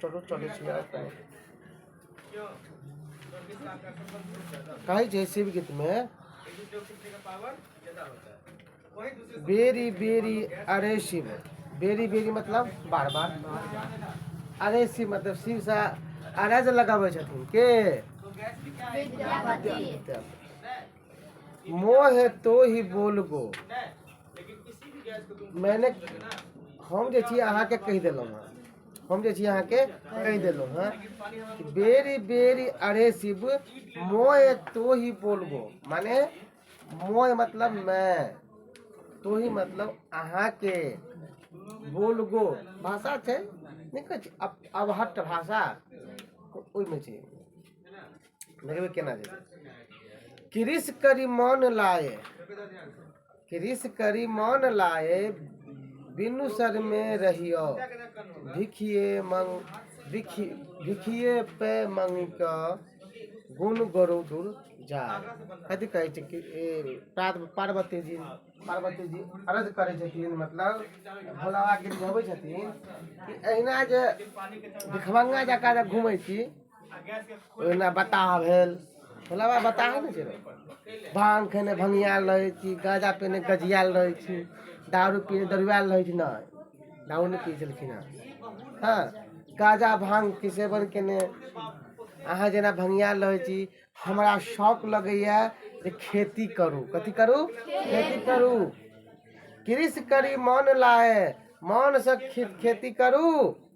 चलो चले कहे छै शिव गीत में बेरी बेरी अरे शिव बेरी बेरी मतलब बार बार अरे शिव मतलब शिव से अरे जे लगाबै छथिन के विद्यापति मोह है तो ही बोल गो मैंने हम जे छी अहाँके कहि देलहुँ हँ हम जे छी अहाँके कहि देलहुँ हँ कि बेरी बेरी अरे शिव मोह है तो ही बोल गो माने मोह मतलब मैं तो ही मतलब अहाँके बोल गो भाषा छै नहि कहै छै अब अबहट भाषा ओहिमे छै कृस करी मान लाए कृस करी मान लाए बिनु सर में रहियो भिखिए मंग भिखि भिखिए पे मंगी का गुण गुरु दूर जाए कथी कहै छै कि ए, प्रात पार्वती जी पार्वती जी अर्ज करै छथिन मतलब भोला बाबा गिर गबै छथिन कि अहिना जे भिखमंगा जकाँ जे घूमै छी ओहिना बताह भेल भोला बाबा बताह नहि छै भांग खेने भंगियाल रहै छी गाजा पीने गजियाल रहै छी दारू पीने दरुआल रहै छी नहि दारू नहि पीने छलखिन हँ हँ गाजा भांगके सेवन केने अहाँ जेना भंगियाल रहै छी हमरा शौक लगैया जे खेती करू कथी करू खेती करू कृषि करी मन लाए मनसँ खेती करू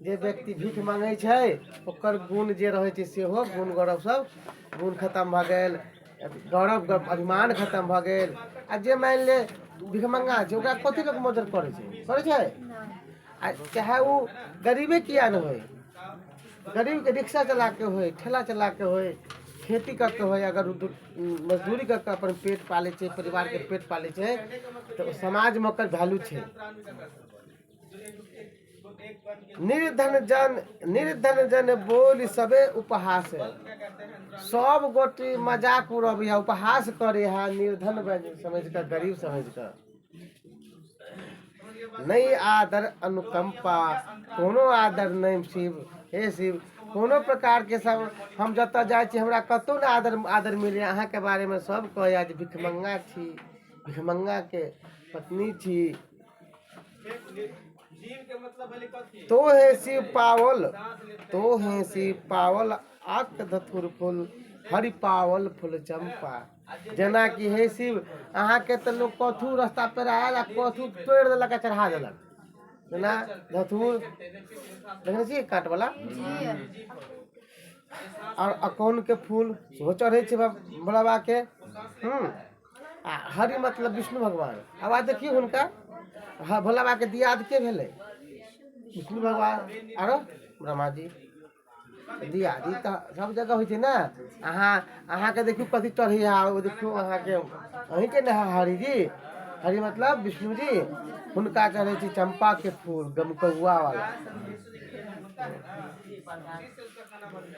जे व्यक्ति भीख मङ्गै छै ओकर गुण जे रहै छै सेहो गुण गौरव सभ गुण खतम भऽ गेल गौरव अभिमान खतम भऽ गेल आ जे मानि ले भिखमङ्गा छै ओकरा कथि लए मदद करै छै करै छै आ चाहे ओ गरीबे किए नहि होइ गरीबके रिक्शा चलाके होइ ठेला चलाके होइ खेती कऽ के होइ अगर मजदूरी कऽ के अपन पेट पालै छै परिवारके पेट पालै छै तऽ समाजमे ओकर वैल्यू छै निर्धन जन निर्धन जन बोली सबे उपहास है सब गोटी मजाक उड़ब है उपहास करे है निर्धन बन- समझ कर गरीब समझ कर नहीं आदर अनुकंपा कोनो आदर नहीं शिव हे शिव कोनो प्रकार के सब हम जतऽ जाइ छी हमरा कतौ ने आदर आदर मिले अहाँ के बारे में सब कहैया जे भिखमंगा छी भिखमंगा के पत्नी छी तो है शिव पावल तो है शिव पावल आक धतुर फूल हरि पावल फूल चंपा जेना कि हे शिव अहाँके तऽ लोक कथू रस्ता पर आयल आ कथू तोड़ि देलक आ चढ़ा देलक जेना धतूर देखने छियै काटवला आओर अकोनके फूल सेहो चढ़ै छै भोला बाबाके हूँ आ हरि मतलब विष्णु भगवान आब आइ देखियौ हुनका हँ भोला बाबाके दियाद के भेलै विष्णु भगवान आरो ब्रह्मा जी दियाद ई तऽ सब जगह होइ छै ने अहाँ अहाँके देखियौ कथी चढ़ैया ओ देखियौ अहाँके अहीँके ने है हरि जी हरि मतलब विष्णु जी हुनका चढ़ै छै चम्पाके फूल गमकौआ वाला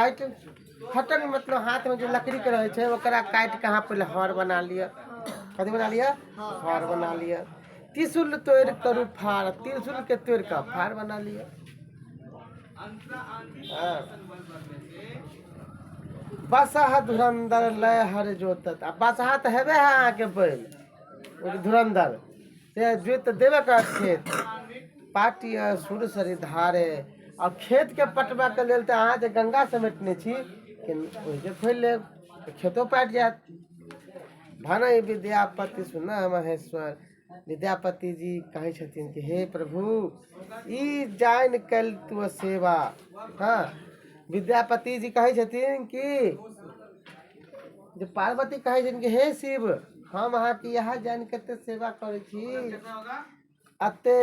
काटि फटक मतलब हाथ में जो लकड़ी के रहे छै ओकरा काटि के अहाँ पहले हर बना लिअ कथी बना लिअ हर बना लिअ त्रिशूल तोड़ि करू फाड़ त्रिशूल के तोड़ि कऽ फाड़ बना लिअ हाँ। बसहा धुरंधर लय हर जोतत आ बसहा तऽ हेबे है अहाँके बैल ओ धुरंधर से जोति तऽ देबे कर खेत पाटी अहाँ सूर्य सरी धारे आ खेतके पटबयके लेल तऽ अहाँ जे गंगा समेटने छी ओहिके खोलि लेब तऽ खेतो पाटि जायत भने विद्यापति सुन महेश्वर विद्यापति जी कहै छथिन कि हे प्रभु ई जानि कल तू सेवा हँ विद्यापति जी कहै छथिन कि जे पार्वती कहै छनि कि हे शिव हम अहाँके इएह जानि कऽ एते सेवा करै छी अते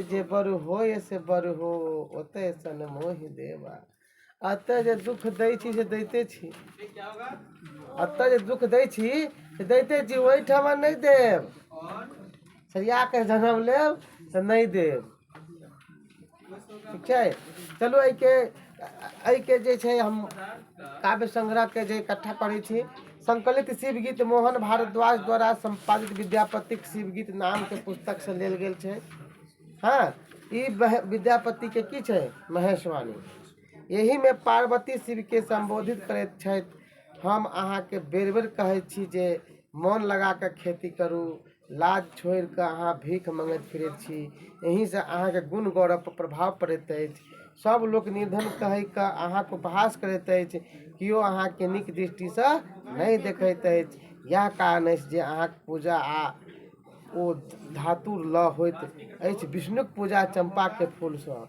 जे बरु होय से बरु हो ओते सन मोहि देवा अतः जे दुख दै छी से दैते छी अतः जे दुख दै छी से दैते छी ओहिठाम नहि देब सरिया कऽ जनम लेब तऽ नहि देब ठीक छै चलू एहिके एहिके जे छै हम काव्य संग्रहके जे इकट्ठा करै छी संकलित शिवगीत मोहन भारद्वाज द्वारा संपादित विद्यापतिक शिवगीत नामके पुस्तकसँ लेल गेल छै हँ ई वह- विद्यापतिके की छै महेशवाणी एहिमे पार्वती शिवके संबोधित करैत छथि हम अहाँके बेर बेर कहैत छी जे मोन लगा कऽ खेती करू लाज छोड़ि कऽ अहाँ भीख मँगैत फिरैत छी एहिसँ अहाँके गुण गौरवपर प्रभाव पड़ैत अछि सभ लोक निर्धन कहि कऽ अहाँके उपहास करैत अछि कियो अहाँके नीक दृष्टिसँ नहि देखैत अछि इएह कारण अछि जे अहाँक पूजा आ ओ धातु लऽ होइत अछि विष्णुक पूजा चम्पाके फूलसँ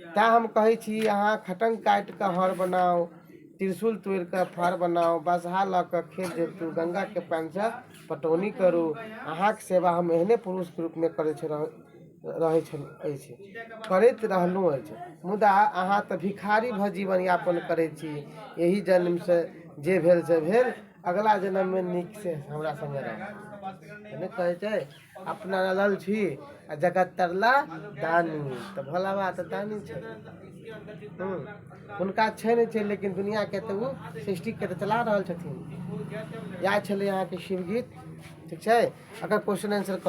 तैँ हम कहै छी अहाँ खटङ्ग काटि कऽ हर बनाउ त्रिशूल तोड़ि कऽ फार बनाउ बसहा लऽ कऽ खेत जोतू गङ्गाके पानिसँ पटौनी करू अहाँक सेवा हम एहने पुरुषके रूपमे करैत छी रहैत छल अछि करैत रहलहुँ अछि मुदा अहाँ तऽ भिखारी भऽ जीवन यापन करैत छी एहि जन्मसँ जे भेल से भेल अगिला जन्ममे नीकसँ हमरा सङ्गे रहब नहि कहैत छै अपना रहल छी आ जगत तरला दानी तऽ भोला बाबा तऽ दानी छथिन हूँ हुनका छै नहि छै लेकिन दुनिआँके तऽ ओ सृष्टिके तऽ चला रहल छथिन इएह छलै अहाँके शिवगीत ठीक छै एकर क्वेश्चन आन्सर